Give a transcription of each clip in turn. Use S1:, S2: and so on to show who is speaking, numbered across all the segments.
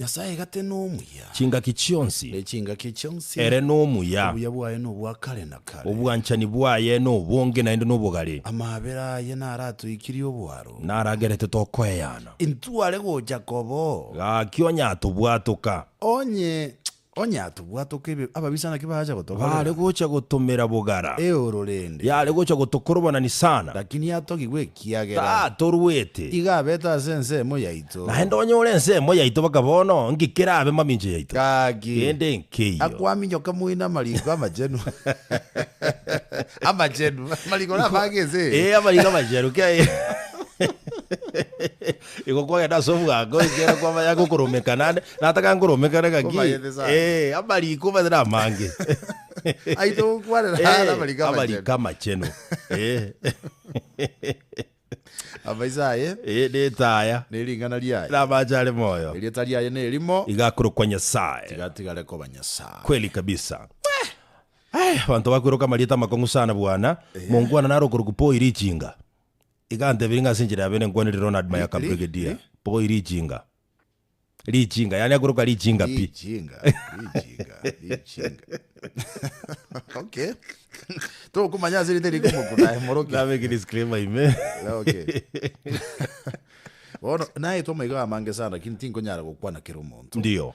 S1: Nyasae egate
S2: nomuya. Chingaki chionsi.
S1: Ne chingaki chionsi.
S2: Ere nomuya.
S1: Obuya bwaye nobwa
S2: kare na kare. Obwanchani bwaye
S1: nobonge naende nobogare. Amaabera aye
S2: naratoikirie oboaro. Naragerete
S1: tokoeana. Intwe are gocha
S2: koba oo. Gaki onye
S1: atobwatoka. Onye
S2: Onye atobwatoka ebi ababisa naki baacha gotoborera. Baare gocha gotomera
S1: bogara. Eoro rende. Yare
S2: gocha gotokorobana
S1: Nisana. Lakini atogigwe
S2: ekiagera. Tatorwete. Iga
S1: abete ase ensemo
S2: yaito. Naende onye ore ensemo
S1: yaito baka bono, nki kerabe mamincho yaito? Gaki. Kende
S2: nkeiyo.
S1: Akwaminyoka moino
S2: amariko amachenu. Amachenu. Amariko nabage ense eye. Ee, amariko amachenu.
S1: Kei. Igo kwagenda ase obwango, ekiagera kwamanya gokoromeka naende, na ataka nkoromekana ngaki, Komanyete sana. eh, amariko omanyete na amange. Aite
S2: gokwanera Eh, are amariko amachenu. amariko
S1: amachenu. Eh.
S2: Amaiso aye Eh, netaya,
S1: nering'ana riaye
S2: namache are moyo.
S1: erieta riaye nerimo
S2: Igakorokwa Nyasaye.
S1: tigatigare koba
S2: nyasaye Kweli kabisa.
S1: Aya, banto bakwiroka amarieta amakong'u sana bwana. Mongwana naro okorokwa Paul Richinga. Igantebia, Ring'a ase enchera ya bene nkwanire Ronald Mayaka Brigedia, Pogoi Richinga. Richinga, yaani akoruka richinga pi. Richinga,
S2: richinga, richinga. Okay. Tokomanya ase rinde riko moku naye morokia. Nabeke disclaimer ime.
S1: Okay.
S2: Bono, naetwa amaiga amange sana, lakini tinkonyara gokwana kera omonto. Ndio.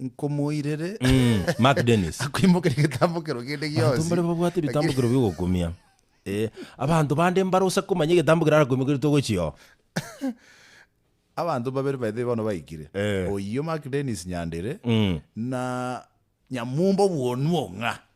S2: nkomoirere Mm, Mark
S1: Dennis. akoimokerie egetambokero
S2: kende Abanto gionsi. mbare babwate ebitambokero
S1: bi'ogokumia. Eh, abanto bande mbare ose komanya egetambokero arakoimokeretwe ogochia oo.
S2: Abanto babere baito bono baikire. Eh. Oyio Mark Dennis Nyandere Mm. na Nyamumba obwonwa ong'a.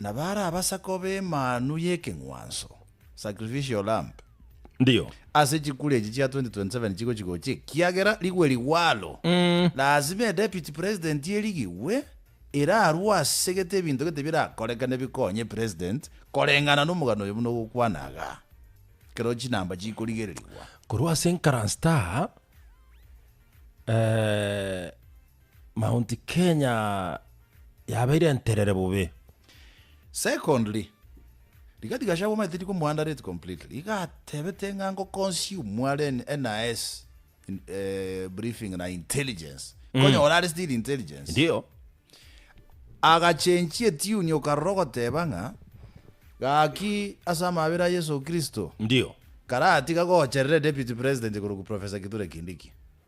S2: Na barabasa koba emanu y'ekeng'wanso, sacrificial lamb, Ndiyo.
S1: ase chikura
S2: echi chia 2027 chigochi gocha ekiagera rigwe rigwalo. Lazima eDeputy President erigigwe, erarue ase gete ebinto gete birakorekane bikonye President koreng'ana nomogano oyo buna ogokwana iga, ekero chinamba chikorigererigwa. Korwa ase
S1: enkaranstaa, eh, Mount Kenya yabeire enterere bobe.
S2: Secondly, rigathi Gachagua omanyete riko mo underrate completely. Iga atebete ng'a ngo consume are NIS briefing na intelligence. Konyora are still intelligence. Ndio. Agachenchie tune okarora ogoteba ng'a gaki ase amabera a Yeso Kristo. Ndio.
S1: Karatiga
S2: gocherere Deputy President korokwa Professor Kithure Kindiki.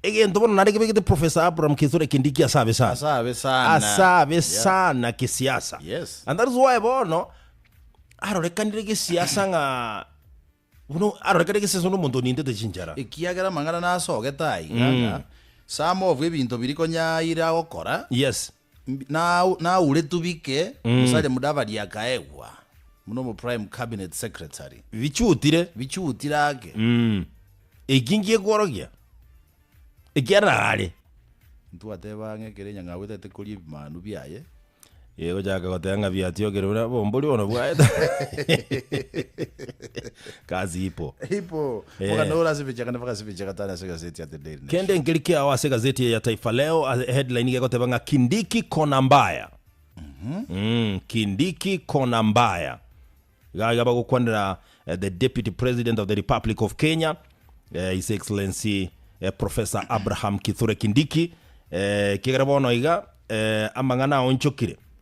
S1: Egento bono nare kebegete Professor Abraham Kithure Kindiki ase abe sana. Ase abe sana kesiasa. And that is why
S2: bono
S1: arorekanire gesiasa ng'a buna arorekanire gesiasa buna omonto onintete chinchara. Ekiagera amang'ana
S2: nasogete aiga ng'a some of ebinto biri konya aira gokora. Yes. Nauretwe bike Musalia Mudavadi akaegwa buna omo Prime Cabinet Secretary. Bichutire. Bichutire ake.
S1: Eki ngiekorogia ekiarara are. Ntwateba
S2: ang'e ekero enyang'au etaete koria ebimanu biaye. Egochaka
S1: goteba ng'a biatiokire buna bombori bono bwaye. Kazi Hippo. Hippo. Boka Eh.
S2: noro ase ebichaka na boka ase ebichaka tari ase egazeti ya The Daily Nation. Kende nkeri kiao ase
S1: egazeti eye ya Taifa Leo, a- headline iga egoteba ng'a Kindiki kona mbaya. Mm, Kindiki kona mbaya. Iga iga bagokwanera eh, the Deputy President of the Republic of Kenya, eh, His Excellency eh, Professor Abraham Kithure Kindiki. Eh, kegera bono iga eh, amang'ana aonchokire.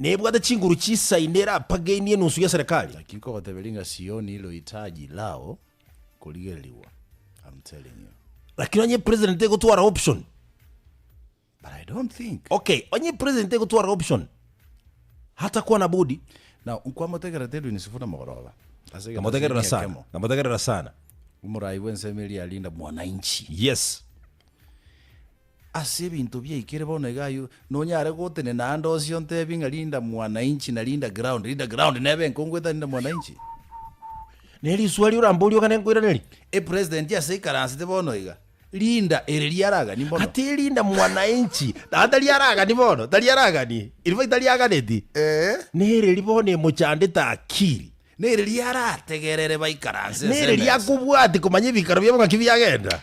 S1: Nebwate chinguru chisaine erapagenie enusu ya serikali. Naki nkobateberia ng'a
S2: Sioni lohitaji lao korigererigwa, I'm telling you. Lakini onye president
S1: egotwara option.
S2: But I don't think. Okay, onye president
S1: egotwara option. Hatakwana budi. Now, nkwamotegerete
S2: Edwin Sifuna mogoroba. Ase egento ase Namotegerera emiaka sana. emo. Namotegerera
S1: sana. Omorai bw'ensemo
S2: eria arinda mwananchi. Yes.
S1: Ase
S2: ebinto biaikire bono iga ayio, nonyare gotenena aande onsi ontebie ng'a Linda Mwananchi na Linda Ground. Linda Ground nebe enkongu etari Linda Mwananchi.
S1: Ne riswali oramborie ogane nkoiranerie. Epresident ase
S2: aikaransete bono iga, Linda ere riaragani mbono? Gati Linda Mwananchi
S1: naye tari aragani bono? Tari aragani? Erifai tari aganeti? Ee. Nere ri bono emochandete akiri? Nere
S2: riarategerere baikaranse ense Nere emesa? riakobwati
S1: komanya ebikaro biabo ng'aki biagenda?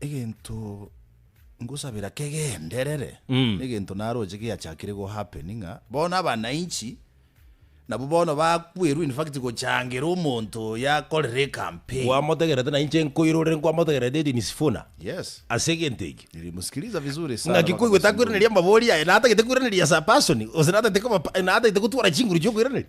S2: egento ngosabera kegenderere Mm. egento naroche giachakire go happen ng'a bono abananchi nabo bono bakwerwa in fact gochangera omonto oyo akorere ecampaign kwamotegerete na inche
S1: nkoirorere nkwamotegerete Edwin Sifuna yes ase egento
S2: eke
S1: nilimsikiliza vizuri
S2: sana ng'aki mpaka koigwete akoiraneria
S1: amabori aye natagete koiraneria as a person gose natagete koba pa- natagete gotwara chinguru chiokoiraneria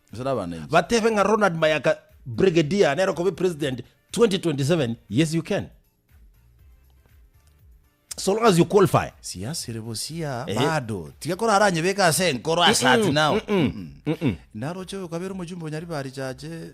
S2: Batebe ng'a Ronald
S1: Mayaka Brigadier nero kobe president 2027 yes you can so long as you qualify siasire bosia
S2: eh. bado tiga kora aranye beka ase enkoro asati nao mm -mm. mm -mm. naro chebe kabere mojumbe onyari bari chache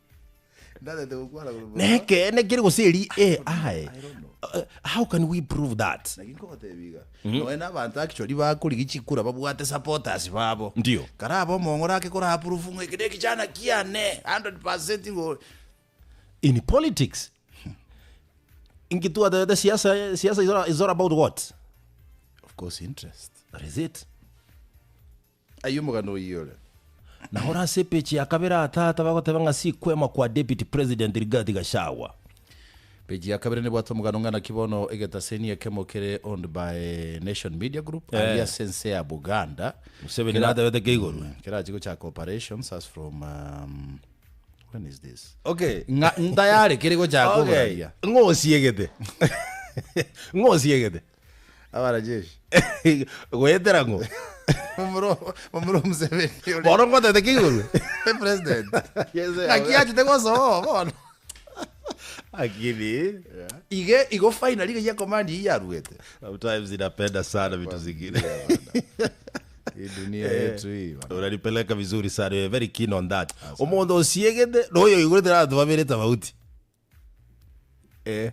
S1: Nekeene kere gose eri eh aye. Uh, How can we prove that? Lakini nkogotebia
S2: iga noe na abanto actually bakorigia chikura babwate supporters babo Ndio. kare aba omong'ora
S1: ake
S2: kora approve ng'a eke nekichana kiane 100% ngo In
S1: politics. Inki twatebete siasa siasa is all- is all about what? of course
S2: interest That is it. Aye omogano oyio ore. Na ore ase
S1: epeji ya kabere aa tata bagoteba ng'a sikwema kwa Deputy President Rigathi Gachagua. Peji
S2: ya kabere nebwate omogano ng'a naki bono egetaseni ekemo kere owned by Nation Media Group Eh. aria ase ense ya Buganda. Museveni Kera- natebete
S1: keigorwe. Mm, Kerachi gochaka
S2: operations as from um, when is this? Okay. Ng'a
S1: ntayare kere
S2: gochaka Okay. oboraria. Ng'osiegete.
S1: Ng'osiegete. Abarajeshi.
S2: Goetera
S1: ng'o? Momura
S2: momura o Museveni oria. Bono ngotete ki
S1: igoro? Be president.
S2: Yes, eh, Naki
S1: achete gosoa
S2: bono. Lakini
S1: Ige igo
S2: finally iga ya command iyi yaruete. sometimes inapenda
S1: sana vitu zingine.
S2: Hii dunia yetu hii. bana. Unanipeleka vizuri
S1: sana. You're very keen on that. Omonto osiegete na oyo oigurete na abanto babere tofauti. Eh,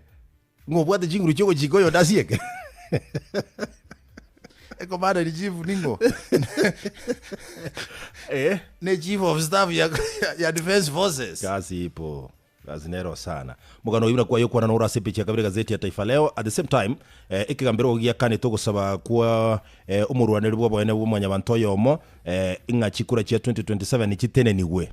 S1: ng'a obwate chinguru chiogochika oyonde asieke.
S2: Ekomanderi chief ning'o? Eh, Ne chief of staff ya, ya, ya defense forces. kasi ipo
S1: kasi nero sana mogano oyo buna kwaye okwana noro ase epechi ya kabere gazeti ya taifa leo at the same time eh, ekegambero ogo giakanete ogosaba kwa eh, omorwaneri bw'oboene bwa mwanyabanto oyomo eh, ng'a chikura chia 2027 chitenenigwe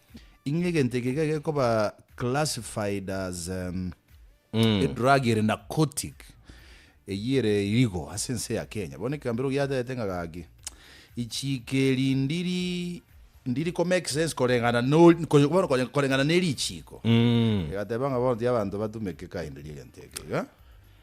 S2: Inwe egento eke iga gekoba classified as um, Mm. edrug ere narcotic eyio ere irigo ase ense ya kenya bono ekambero giatete ng'a gaki ichiko eri ndiri ndiri ko make sense koreng'ana no- ko- bono kore- koreng'ana nerichiko Mm. egateba ng'a bono tiga abanto batumeke kaende riegento eke iga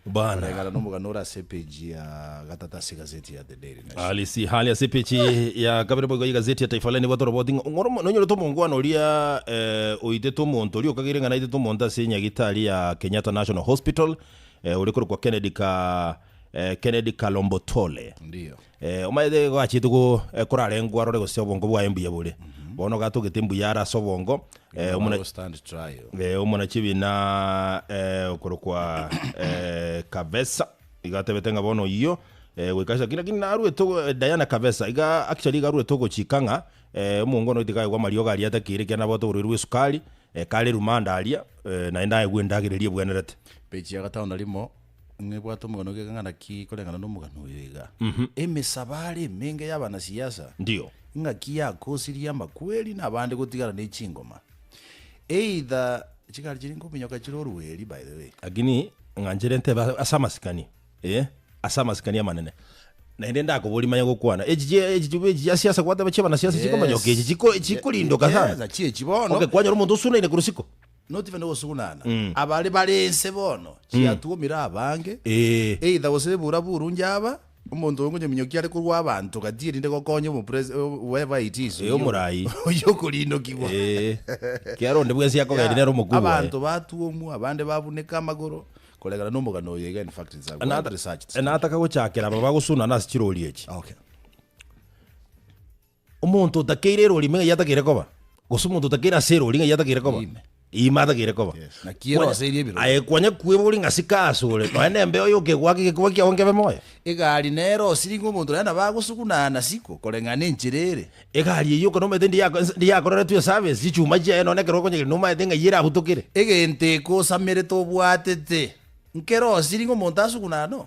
S2: Bana.
S1: Oregana nomogano ore
S2: ase epeji ya gatata ase egazeti ya The Daily Nation. Halisi hali ase epeji
S1: ya kabere boigo y'egazeti ya Taifa Leo nigo atoroboti ng'a ong'oro mo- nonyorete omongwana oria eh, oitete omonto oria okageire ng'a naitete omonto ase enyagitari ya Kenyatta National Hospital eh, ore korokwa Kennedy ka eh, Kennedy Kalombotole Ndiyo.
S2: Omanyete igo achiete
S1: go, korarengwe arore gose obongo bwaye mbuya bore. Bono iga atogete mbuya are ase obongo, eh, omona, Will stand
S2: trial. eh, omona chibina
S1: eh, okorokwa eh, Kavesa iga atebete ng'a bono oyio eh, goika ase lakini narwete ogo- eh, Diana Kavesa iga actually iga arwete ogochika ng'a eh, omongo one goita iga aigwa amariogo aria atakeire ekiagera nabwate oborwaire bwa esukari, eh, kare erumande aria, eh, naende aigwe endagera eria ebwenerete. Page ya gatano na
S2: rimo. Nebwate omogano o gekang'ana ki koreng'ana nomogano oyo iga? Emesabare emenge y'abanasiasa Ndio. ing'aki
S1: yakosirie
S2: amakweri na abande gotigana ne chingoma. Either chigari chiria nkominyoka chire orueri by the way. Lakini ng'anchire
S1: ntebe ase- ase amasikani eh, ase amasikani amanene naende ndakoboria manya gokwana echi chi echi chibe echi chia siasa gwateba chi'abanasiasa chikomanyooka echi chiko chikorindoka Yes, sana. achie echi bono. Okay,
S2: kwanyora omonto osunaine
S1: korwa isiko. Notibe nogosugunana.
S2: Abare bare ense bono chiatuomire abange, either gose ebura buru njaba, omonto oyo ngonyominyokia are korwa abanto gati erinde gokonya omo pres whoever it is oyio
S1: okorindokigwa.
S2: Ekiagera
S1: onde bwensi akogeri nere omokuu oye. Abanto batuomwa,
S2: abande babuneka amagoro koregana nomogano oyo iga in fact it's a well researched story. Nataka gochakera aba
S1: bagosugunana ase chirori echi. Okay. Omonto otakeire erori ng'ai atakeire koba? Gose omonto otakeire ase erori ng'ai atakeire koba? Ime. Ime atakeire koba. Yes. Naki ero Kwanya- ase eria
S2: ebirori. Aye, kwanya kwebori ng'a
S1: sika ase ore. Nonya nembe oyo okegwaka egekoba kiago nkebe moyo. Egari nere
S2: osiringe omonto naye nabo agosugunana na siko koreng'ana enchera ere. Egari eyio ekero omaete
S1: ndiyako- nse- ndiyakoreretwe eservice, chichuma chiaye nonya ekero okonyegena omaete ng'ai ere agutokere. Egento ekosamerete
S2: obwatete, nkere osiringe omonto asugunana no.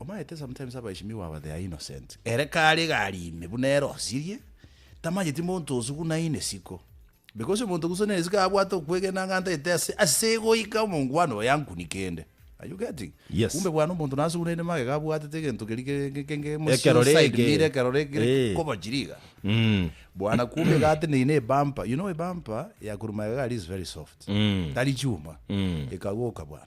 S1: Omaete
S2: sometimes abaishimiwa aba they are innocent. Ere kare iga aria ime buna ere osirie, tamanyeti monto osuguna ine isiko. Because omonto ogusuna ere isiko abwate okwegena ng'a ntaete ase ase goika omongwana oyo yankuni kende. Are you getting? Yes. Kumbe bwana omonto
S1: nasugunaine
S2: magega abwatete egento keria ke- ke- ke- ke- mosio Ekerore side eke. mirror,
S1: ekerore eke kere
S2: Eh. kobochiri iga. Mm. Bwana kumbe iga ateneine ebumper. You know ebumper ya korwa magega aria is very soft. Mm. Tari chuma. Mm. Ekagoka bwana.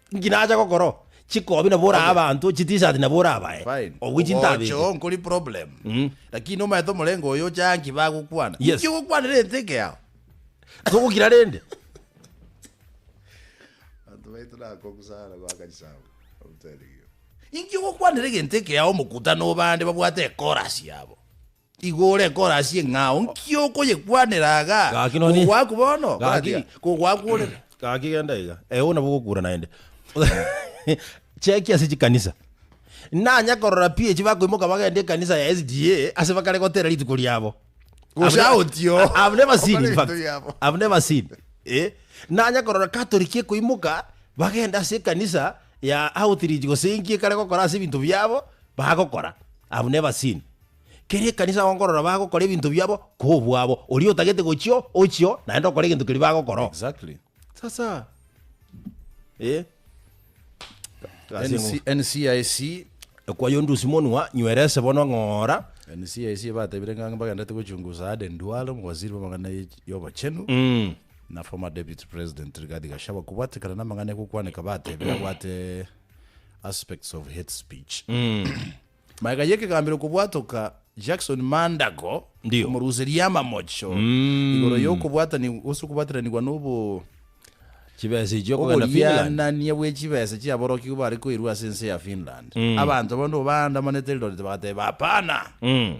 S1: Nki nacha gokoro? Chikobi nabo orae abanto, chitishat nabo orabae, Fine. obwe Ogocha chintabete. oo nkori problem.
S2: Mm. Lakini nomaete omorengo oyo oche aa nki bagokwana. Yes. Nki ogokwanera
S1: enteke yao?
S2: Togokira
S1: rende.
S2: Abanto baito nakong'u sana goakani sabu. I'm telling you. Inki ogokwanera egento eke yao omokutano oba ande babwate ekorasi yabo? Igo ore korasie ng'a nki okoyekwanera aga? Gaki nonye. Kogwaku bono? Gaki. Koratia, Kogwaku orere. Gaki genda iga.
S1: Ewe nabo ogokura naende. Chekia ase chikanisa. Nanya korora pi echi bakoimoka bagenda ekanisa ya SDA ase bakare gotera rituko riabo. Gose I've- aotio. I-
S2: I've never seen,
S1: in Bakare fact. rituko riabo. I've never seen. Eh? Nanya korora Catholic ekoimoka bagenda ase ekanisa ya outreach gose enki ekare gokora ase ebinto biabo bagokora. I've never seen. Kera ekanisa bagokorora bagokora ebinto biabo kobwabo, oria otagete gochio ochio naende okore egento keria bagokora. Exactly. Sasa eh
S2: Gasi NC, engo- NCIC ekwayo ndusi
S1: monwa nywerese bono ng'ora NCIC batebire
S2: ng'ang'e bagendete gochungusa Aden Duale omowaziri bw'amang'ana ye- y'obochenu mm. na former deputy president Rigathi Gachagua kobwatekana n'amang'ana ekokwaneka batebire abwate aspects of hate speech Magega y'ekegambero kobwatoka Jackson Mandago, Ndio. omoruseria amamocho Mm. igoro y'okobwatani gose okobwatiranigwa nobo Chibesa
S1: echi okogenda Finland. oborianania bwe chibesa
S2: chiaborokigwa bare koirwa ase ense ya Finland. Mm. Abanto abande obaandamanete Eldoret bagateba hapana. Mm.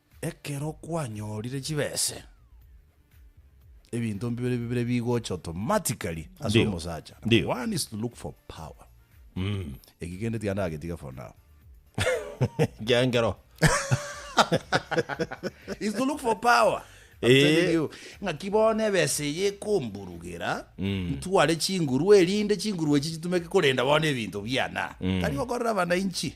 S2: Ekero kwanyorire chibese, ebinto mbibere bibere bigocha automatically ase Ndio. omosacha. Ndio. Number one is to look for power. Eki kende tiga ndagetiga for now. Kiangero. is to look for power. I'm Eh. telling you. ng'aki bono ebese eye ekomburugera ntware chinguru erinde chinguru echi chitumeke korenda bono ebinto biana tari gokorera abananchi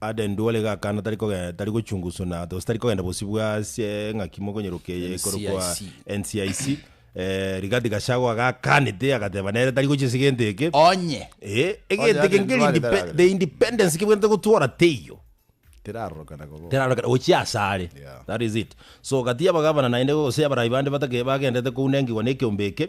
S1: Ade ndwore iga akana tari kogenda tari gochunguswa na gose tari kogenda bosio bwa ase eng'aki mokonyeroka eye ekorokwa NCIC. NCIC eh, Rigathi Gachagua agakanete agateba nere tari gochia ase egento eke Onye. Eh, egento
S2: Onye ake ade nkeri ndware
S1: indepe- taragera. the independence kebwenerete gotwora teiyo Terarorokana
S2: koba. terarorokana gochia ase are
S1: Yeah. that is it so gati y'abagavana naende gose y'abarai bande batake bagenderete kounengigwa na ekeombe eke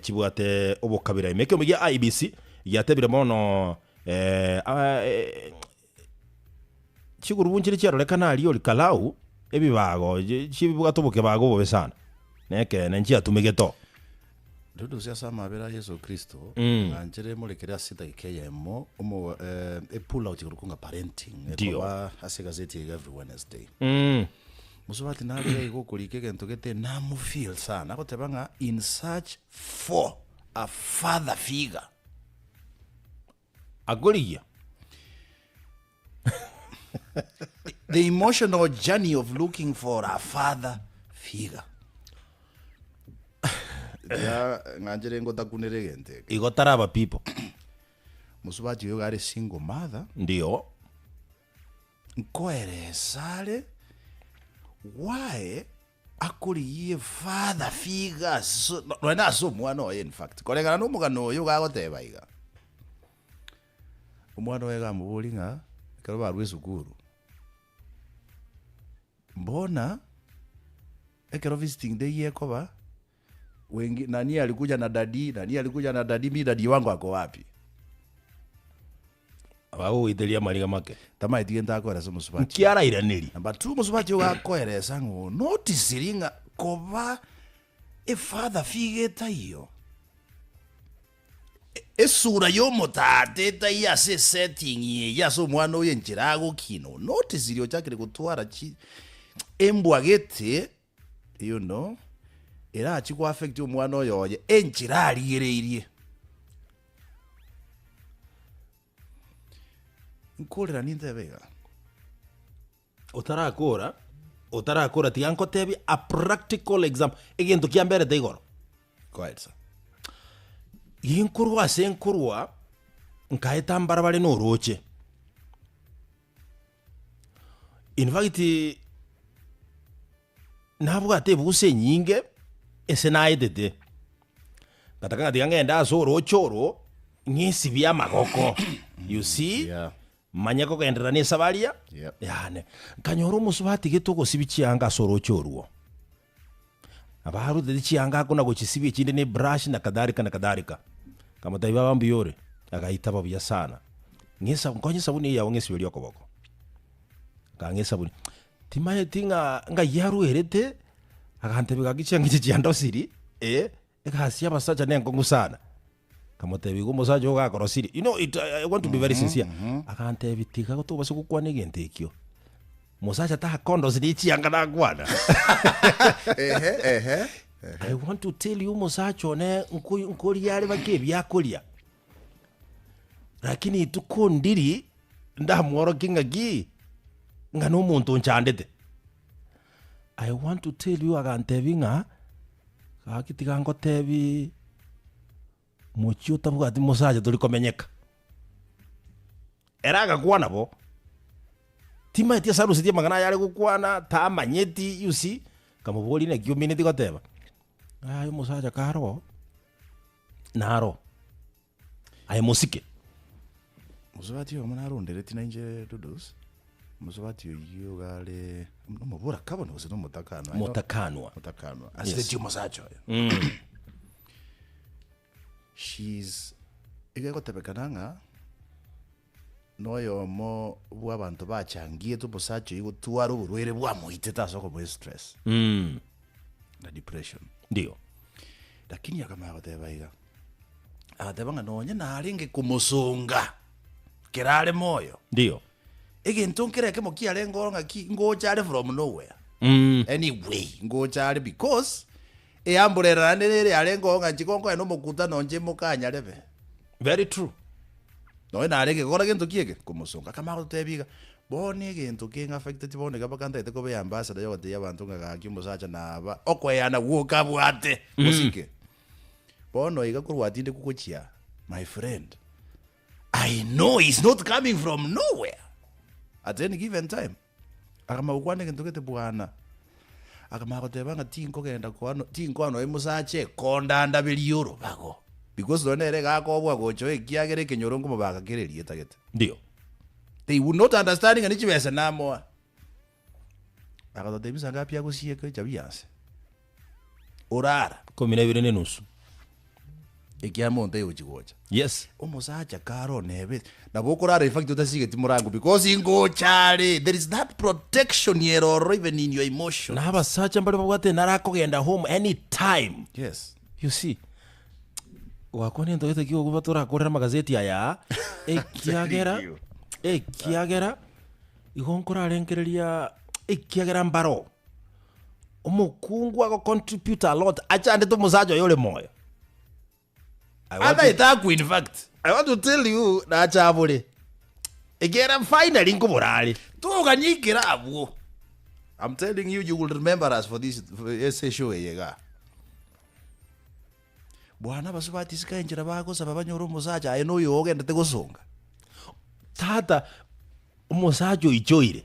S1: chibwate obokabira ime. Ekeombe gia IEBC giatebire bono chigurubuu nchiria chiarorekana aria ori Kalau ebibago chibwate obokebago obobe sana na ekeene nchiatumegete oo.
S2: Rirusia ase amabera a Yeso Kristo ng'anchire emorekere ase edageka eyemo e pull out ekorokwa ng'a parenting ekoba ase egaseti eye every Wednesday. Mosubati narorire igo okorika egento gete namufeel sana agoteba ng'a in search for a father figure
S1: akorigia
S2: the emotional journey of looking for a father figure ya ng'anchire ngotakunera egento eke igo taraba people mosubati oyo are single mother ndio
S1: Nkoere
S2: esare, gwae akorigie efather figa ase nonya na ase omwana oye in fact koreng'ana na omogano oye gagoteba iga. Omwana oye gamoborie ng'a ekero barwa esukuru, mbona ekero visiting day ekoba. Wengi, nani alikuja na daddy, nani alikuja na daddy, mi daddy wangu ako wapi?
S1: Abagogoiteria amariga make. Tamaeti gento akoera ase
S2: omosubachi. Nki arairanerie? Number
S1: two, omosubachi ogo
S2: akoeresa ng'a onotisiri ng'a koba efather figa etaiyo. E- Esura y'omotaata etaiyo ase esetting eye ase omwana oyo enchera agokina onotisiri ochakire gotwara chi embwa gete You know, erachi go affect omwana oyo oye enchera arigereirie. Nkorera nintebe iga. Otarakora,
S1: otarakora tiga nkotebie a practical example, egento kiamberete igoro. Go ahead sir.
S2: Gie nkorwa
S1: ase nkorwa, nkaeta mbarabare na oroche. In fact, nabwate ebusa enyinge ase naetete, ngataka ng'a tiga ng'ende ase orooche oro, ng'esibie amagoko, you see, Yeah. manye kogenderera nese baria, Yep. yane. Nkanyora omosubati gete ogosibi chianga ase orooche orwo. Nabo arutete chiangaku na gochisibia chinde ne brashi na kadhalika na kadhalika. Akamotebia, Baba mbuya ore. Agaitaba buya sana. Ng'esa, nkonye esabuni eyao ng'esiberi okoboko. Akang'a esabuni. Timanyeti ng'a ng'ai yarwerete, agantebia gaki chianga echi chiandosiri, eh, Egasi y'abasacha nenkong'u sana. Akamotebia, Igo omosacha ogo gakorosirie. You know, it, I want to be very sincere. Akantebia, tiga tobase gokwana egento ekio. Mosacha takondosirie chianga nakwana. Ehe, ehe. I want to tell you omosacha one nko- nkoria are bake ebiakoria. Rakini rituko ndiri ndamworokie ng'aki ng'a nomonto onchandete. I want to tell you agantebia ng'a gaki tiga ngotebie mochie otabwati mosacha tori komenyeka. Ere agakwana bo, timanyeti ase arusetie amang'ana ayare gokwana, tamanyeti you see, nkamoboria naki omineti goteba. Ng'ai omosacha kare oo. naro aye mosike.
S2: Mosubati oyomo narondereti nainche Dodos, mosubati oyio iga are nomoboraka bono gose nomotakanwa aiga? Motakanwa. Motakanwa. Asireti omosacha oyo. She's iga egotebekana ng'a Noyomo bw'abanto bachangiete omosacha oyio gotwara oborwaire bwamoitete ase okomoa estress Mm. na depression. Ndio.
S1: Lakini
S2: akamanya goteba iga, agateba ng'a nonye narenge komosonga kera are moyo, Ndio.
S1: egento nkere
S2: ekemo kiarenge oro ng'aki, ngocha are from nowhere, Mm. anyway, ngocha are because Eambura erarane nere yarengeo ng'a chikonkonya nomokutano onche imoka anyarebe. Very true.
S1: Nonya
S2: nare gekora gento ki eke, komosonga. Akamanya gototebia iga, Bono egento keng'e affecteti bono iga mpaka ntagete koba eambassador yogotebia abanto ng'a gaki omosacha naba okoeana gwoka abwate bosike. Bono iga korwa atindekwa gochia aa, my friend, I know he's not coming from nowhere at any given time. Akamanya gokwana egento gete bwana. Akamanya goteba ng'a tinkogenda kwano, tinkoa nonya Musa ache kondandaberia orobago. Because nonya nere iga akobua gocha oo ekiagera ekenyoro nkomobaka kere erieta gete. Ndio.
S1: They would
S2: not understand ng'a ne chibesa namoa. Agatotebia sa ngapi agosieka echabi ase. orara. Ikomi nebere nenusu. Ekiama onto aye ochi gocha. Yes. Omosacha
S1: kare
S2: onebe nabo okorara infact otasigeti morango because ingocha are there is that protection ere ororo even in your emotion. Na abasacha mbare babwate
S1: nare akogenda home any time. Yes. You see gwakwana ento gete ki okoba torakorere amagazeti aya ekiagera ekiagera igo nkorarenkereria ekiagera mbaro. Omokungu ago contributor a lot achandete omosacha oyo ore moyo. I want to- Ataete
S2: akwe in fact. I want to tell you nacha abore. Ekera finally nkobora are. Togania ekero abwo. I'm telling you, you will remember us for this for ese show eye iga. Bwana abaso batisika enchera bagosaba banyore omosacha aye noyo ogendete gosonga.
S1: Tata omosacha oichoire.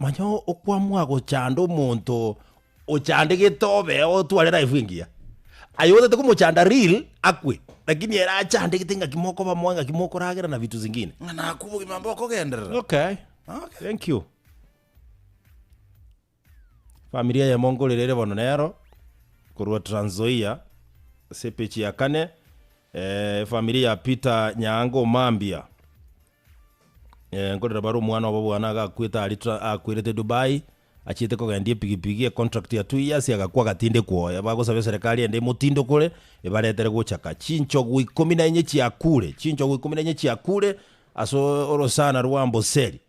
S1: Manya okwamwa gochanda omonto ochandegete obe otware life engiya. Aye otete komochanda real akwe. Lakini ere achandegete ng'aki mokoba moe ng'aki mokoragera na vitu zingine. Ng'a nakwa obogima
S2: mbokogenderera. Okay. Okay.
S1: Thank you. Family eyemo nkorire ere bono nero, korwa Trans Nzoia, ase epechi ya kane, efamiri ya Peter Nyaanga Omambia, nkorire bare omwana obo bwane agakwete aria Tra akwerete Dubai, achiete kogendia epigipigi econtract ya two years agakwa agatindekwa oye, bagosaba eserekari ende emotindokore, ebaretere gochaka, chinchogu ikomi na inye chiakure, chinchogu ikomi na inye chiakure ase orosana rwa amboseli,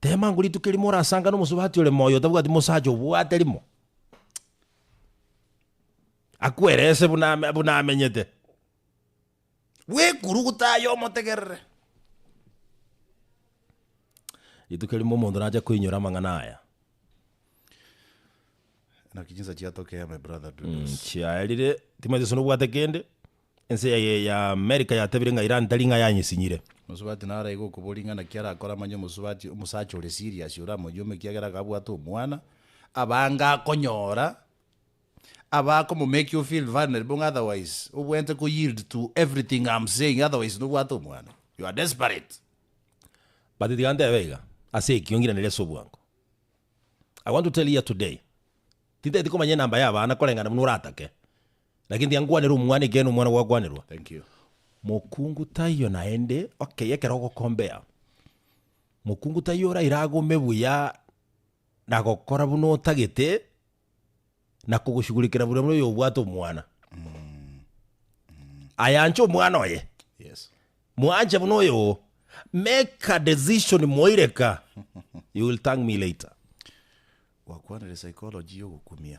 S1: Teema ngo rituko erimo orasangane omosubati ore moyo otabwati mosacha obwate rimo. Akwerese buna ame- buna amenyete, bwekuru gotaya omotegerere. Rituko erimo omonto nache koinyora amang'ana aya,
S2: Naki chinsa chiatokeya my brother do this. chiaerire,
S1: timanyeti gose nobwate kende, Ense yaye y'Amerika yatabire ng'a Iran tari ng'a yanyesinyire. Omosubati naro aye
S2: gokoboria ng'a naki arakore amanye omosubati omosacha ore serious ore amoyome ekiagera iga abwate omwana, abange akonyora abakoma make you feel vulnerable ng'a otherwise obwente ko yield to everything I'm saying otherwise nobwate omwana. You are desperate.
S1: But tiga ntebe iga, ase ekio ngiraneria ase obwango. I want to tell here today, tintageti komanya enamba y'abana koreng'ana buna oratake, Lakini tiankwanire omwana, ekiagera nomwana gwakwanerwa.
S2: Mokungu
S1: taiyo naende, okeye ekero ogokombea, mokungu taiyo oraire agome buya na gokora buna otagete, na kogoshughulikera buna buna oyobwate omwana. Ayanche omwana oye, mwanche buna oyo oo, make a decision moireka, you will thank me later.
S2: Gwakwanire psychology ya ogokumia.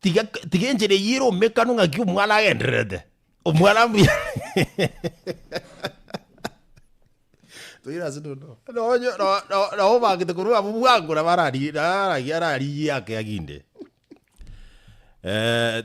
S1: tiga tiga enchera eyio ere omekano ng'aki omwana agendererete omwana mbuya
S2: Toira ase nono. Nonye no- no- no
S1: obagete korwa abwo bwangora barari naragi arari yake aginde. Eh,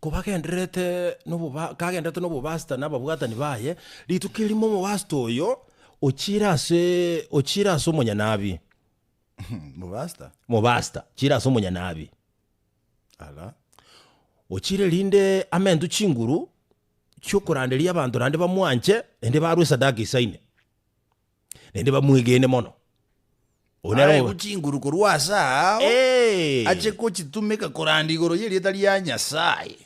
S1: Kobagendererete noboba kagendererete nobobasita na ababwatani baye, rituko erimo omobasita oyo ochiire ase ochiire ase omonyanabi, Mobasta? mobasita chiire ase omonyanabi, Ala. ochiire rinde amentwe chinguru chi'okoranderia abanto naende bamwanche, naende barwe esadaka isaine. naende bamwegene mono. Oyo nere
S2: Aegwe chinguru korwa ase ao, Eh! ache gochitumeka koranda igoro y'erieta ria Nyasae.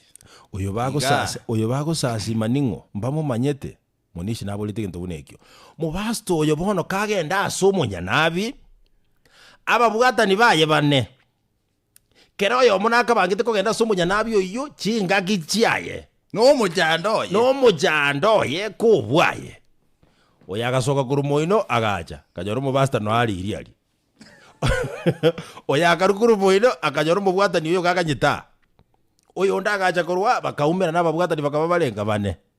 S2: Oyo bagosasi-
S1: Iga. oyo bagosasima ning'o? Mbamomanyete? Monishi naborete egento buna ekio. Mobasta oyo bono kagenda ase omonyanabi, ababwatani baye bane, Kera oyomo nakabangete kogenda ase omonyanabi oyio chingaki chiaye, na omochando
S2: oye. na omochando oye kobwaye. Oyo agasoka korwa moino, agacha, akanyora omobasta noa are iri aria. Oyo akarwa korwa moino, akanyora omobwatani oyo gakanyete aa. Oyonde agacha korwa aa, bakaumera, na ababwatani bakaba bare nka bane.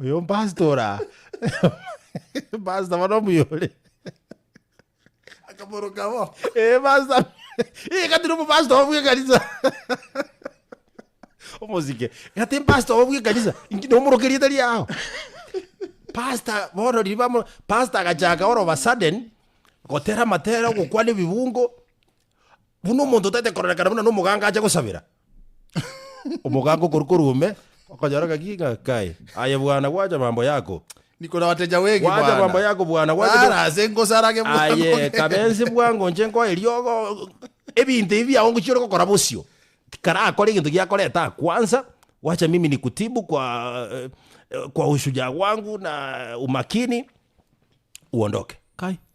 S1: Oyo mpastor ora. Mpastor bono omuya ore.
S2: Akamoroka bo. Eh pastor.
S1: Eh katire mu pastor obwe kanisa. Omosike. Kati pastor obwe kanisa. Inki no moroke rieta riao. Pastor bono riba mo pastor agachaka oro ba sudden gotera matera gokwana ebibungo. Buna omonto tete koranekana buna no moganga acha gosabera. Omogaaka okoru korwa ime, okonyora ngaki ng'a kai, aye bwana gwacha mambo yako. Niko nagoteja
S2: wengi Gwacha bwana. mambo yako bwana, gwacha
S1: Rara bwa- ase ngosarage bwango
S2: Aye ngende. kabensi
S1: bwango inche nkoe riogo ebinto ebi biago ngochia ore gokora bosio. Tikarakore egento giakoreta kwanza, wacha mimi nikutibu kwa eh, kwa ushujaa wangu na umakini uondoke. Kai,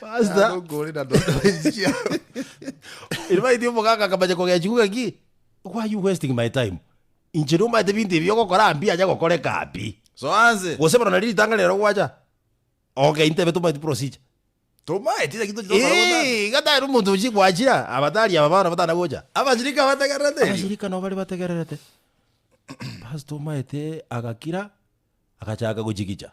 S1: Pastor, Nokore na
S2: ndodo enchia.
S1: in fact, omogaka akamanya kogechi kuga ki, why are you wasting my time? Inche nomanyete binto ebi ogokora mbi anya gokoreka mbi. So anse. Gose
S2: bono nari ritang'ani rero
S1: gwacha. Okay, intebe tomanyeti procedure. Tomaeti
S2: lakini tochi tokora bosa. Eh, iga tari omonto ochi
S1: gwachira, abatari aba bana batana gocha. Abashirika abategererete
S2: erio. Abashirika nabo bare
S1: bategererete. Pastor omaete agakira, agachaka gochigicha.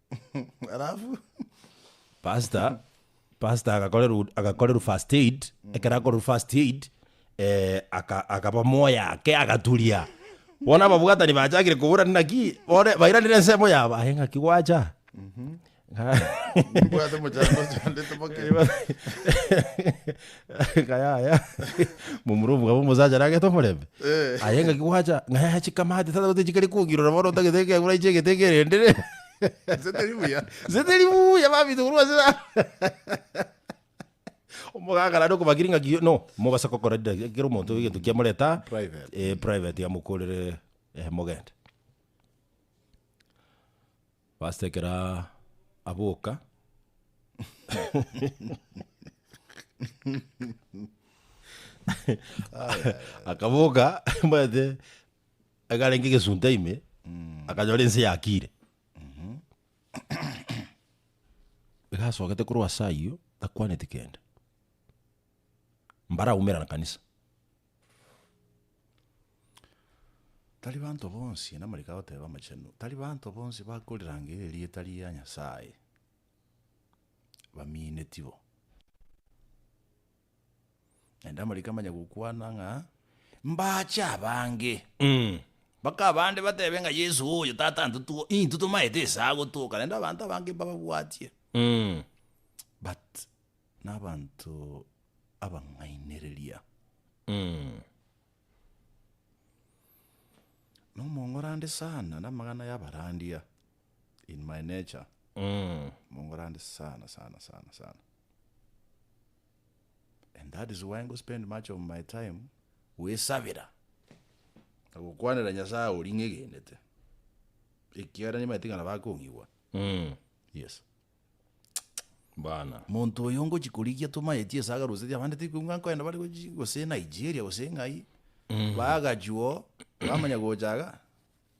S1: alafu Pastor, pastor agakorerwa agakorerwa first aid, ekero akorerwa first aid, eh, aka- akaba moyo ake agaturia. Bono ababwatani bachakire koburana naki, bore bairanire ensemo yabo, aye ng'aki gwacha? Ng'a- nimbwate
S2: mochango chondete boke.
S1: Ng'a yaya, momura omogabo omosacha nagete omorembe. Aye ng'aki gwacha, ng'a yaya chikamate tata gose chikare kogirora bono otagete ekegura inche egete ekerende re. Nse teri buya. Nse teri buya babisa korwa ase yao. Omogaka naende okobakiri ng'aki no, mogose gokora daki ekero omonto egento kiamoreta aa, Private. eh, private amokorere eh, mogende. Pastor ekero aboka akaboka mwete akarenge egesunta ime akanyora ense yakire igasogete korwa ase ayio takwaneti kende mbara aumera kanisa
S2: Tari banto bonsi, namarike agoteba amachenu, tari banto bonsi bakorirangeria erieta ria Nyasaye bamiineti bo. Naende amariko amanya gokwana ng'a mbache abange, mpaka abande batebe ng'a Yeso oyo tata ntotuo intwe tomaete ase agotoka, naende abanto abange mbababwatie but. Nabanto abang'ainereria. Nomong'orande sana namang'ana yabarandia, in my nature, mong'orande sana sana sana sana. And that is why ngo spend much of my time goesabera, na gokwanera Nyasaye oria ng'egenete, ekiagera nimanyete ng'a nabo akong'igwa, yes.
S1: bana. Monto oyo
S2: ngochi korigia tomaeti esaga roseti abande tikoigwa ng'a nkoenda bare gochi gose Nigeria gose ng'ai, bagachwo bamanya gocha iga,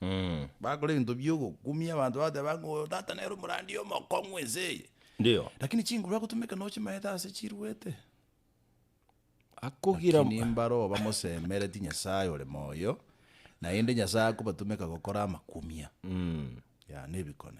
S2: Mm. bakora ebinto bia ogokumia abanto bagateba ng'a oyo tata nere omorandia omokong'u ense eye. Ndio. Lakini
S1: chinguru agotumeka
S2: noche maete ase chiruete.
S1: Akogira Lakini mbare oyo
S2: bamosemereti Nyasaye ore moyo, naende Nyasaye akobatumeka gokora amakumia, Mm. ya, na ebikone.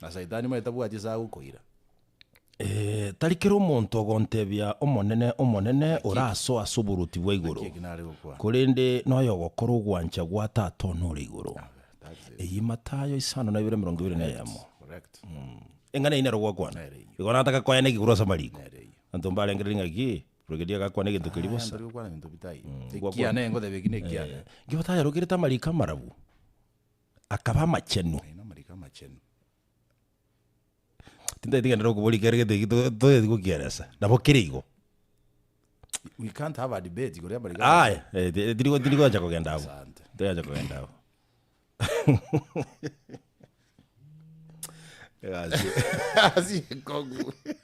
S2: Na Saitani moe tabwati ase agokoira. Ee,
S1: tari kera omonto ogontebia, Omonene, Omonene, orasoa ase oboruoti bwa igoro, Naki eki nare gokwana. korende noyo ogokora ogwancha gwa Tata one ore igoro. That's it. Eyio Matayo isano na ibere emerongo ibere na eyemo. Correct.
S2: Eng'ana eyio nero
S1: gwakwana. Nere eyio. Igo nataka koya neki korwa ase amariko. Nere eyio. Anto mbarengereri ng'aki, Brigadier agakwana egento keria Aya bosa. ntari gokwana ebinto bitaiyo.
S2: gwakwana. Ekiane, ngoteba eki nekiane. Nkibataya rokerete amariko
S1: amarabu. akaba amachenu. Naende amariko amachenu. Tintagete gento nokobori ekero gete ki- to- toyeti gokielesa, nabo kere igo.
S2: We can't have a debate igoro y'amariko Aye, amachenu. eh, ti- tiri- tirigocha
S1: kogenda abwo. Asante. Tirigocha kogenda abwo.
S2: Egasi. Asiko gu.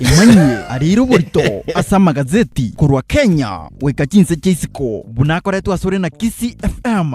S3: Imani arire oborito ase amagazeti korwa Kenya goika chinse chia isiko buna akoretwe asore na Kisii FM.